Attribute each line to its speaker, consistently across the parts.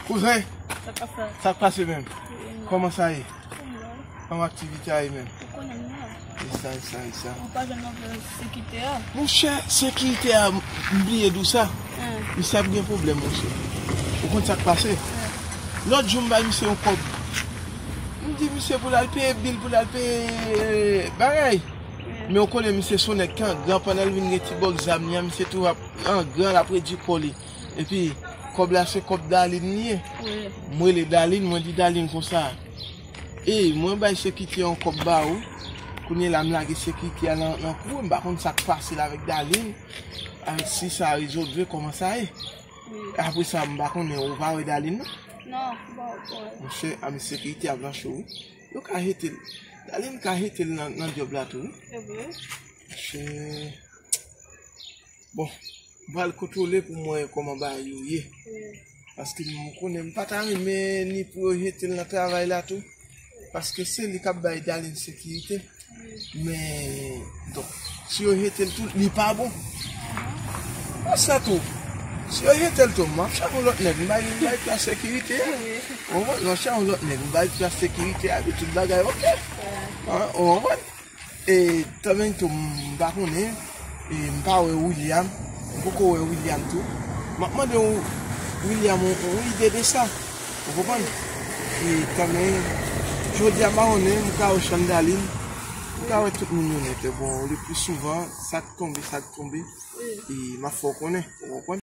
Speaker 1: Kouzen, sa k pase menm? Kouman sa ye? Kouman aktivite a ye menm? Ou konnen m nan? E sa, e sa, e sa. Ou pa
Speaker 2: jwenn nan vle sekite a? Mon chè,
Speaker 1: sekite a, m bliye di w sa. Misye ap gen pwoblèm, mon chè. Ou konn sa k pase? Lòt jou m bay misye yon kòb. M di misye pou l al peye bil, pou l al peye bagay. Men ou konnen misye s on nèg ki angran, pandan l vin gen ti bòks zam li an, misye toujou ap angran, l ap redui kò li. Epi, kòb la se kòb Dalin li ye. M rele Dalin, mwen di Dalin konsa, Ey, mwen bay sekite yon kòb ba ou, kounye la m lage sekite a nan kou, m pa konn sa k pase l avèk Dalin, avèk si sa rezolve, kòman sa ye. Apresa m pa konnen ou pa wè Darline nan? Non, m pa
Speaker 2: wè l. Monchè,
Speaker 1: a mesye Keïty ap nan cho wi. Yo ka jete l. Darline ka jete l nan djòb la tou wi. Se vre? Monchè. Bon, m pral kontwole pou m wè kòman bagay yo ye. Paske m konnen m pa ta renmen ni pou yo jete l nan travay la tou. paske se li kap bay Daligne sekirite men donk si yo jetel tou li pa bon mwen sa tou si yo jetel tou map chache yon lòt nèg m bay plas sekirite a ou konprann map chache yon lòt nèg m bay plas sekirite a epi tout bagay ok ou konprann. E tanmen tou m pa konnen e m pa wè William, m poko wè William tou. M ap mande William yon ide de sa. Ou konprann? E tanmen jodi a m pa konnen, m ka wè Chandaline, m ka wè tout moun yo nèt. Bon, le pli souvan, sa k tonbe, sa k tonbe e m ap fè w konnen. Ou konprann?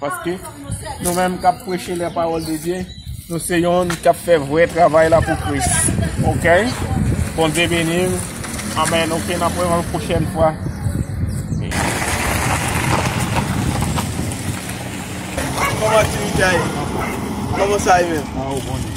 Speaker 3: Paske nou menm kap preche lè pawòl de Dye, nou se yon kap fè vwè travay la pou Kris. Ok? Bondye beniw. Amen. Ok, nan pwen yon pwochèn fwa. Koman ti mi
Speaker 1: kya ye? Koman sa ye men? Mwen ou bon ye.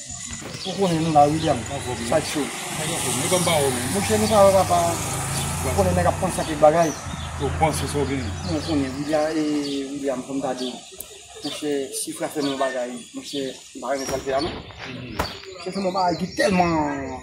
Speaker 4: Ou konnen nou la William Sideshow Mouche nou pa wè papa Ou konnen nèg ap panse ak kèk bagay Ou konnen William fòm ta di w Mouche Sifra fè m yon bagay Mouche m pa renmen sa l fè a non Li fè m yon bagay ki tèlman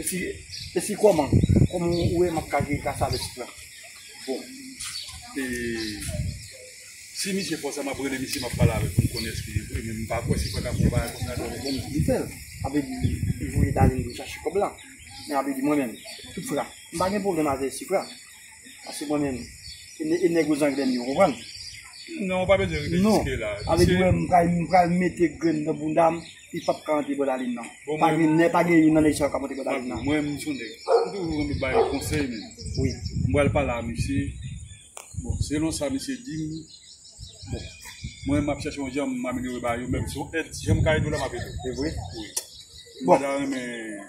Speaker 4: Esi esi kòman kòman ou wè map ka jwe gras a vès la. Bon e si misye fò sa map rele misye map pale avèl poum konnen eske li vre men mpa kwè se paka fè yon bagay konsa non. Bon misye fèl sa vle di li voye Darline vin chache kòb la men sa vle di mwen menm Suphra mpa gen pwoblèm avè Suphra paske mwen menm e nèg yo zangle m yo ou konprann? Non ou pa
Speaker 3: bezwen rive jiske la. Sa vle di
Speaker 4: mwen pral mete grenn nan boundam Li pap ka antre bòdalin nan. Pa gen nè, pa gen youn nan nèg sa yo k ap antre bòdalin nan. Mwen menm m son nèg,
Speaker 5: m toujou renmen bay konsèy men. Wi. M pral
Speaker 4: pale a
Speaker 5: misye, bon selon sa misye di m, bon mwen
Speaker 4: m ap chèche yon jan m amelyore ba yo men si se yon èd, si jan m ka ede w la m ap ede w. Se vre?
Speaker 6: Wi.
Speaker 4: Bon. M ta
Speaker 6: renmen.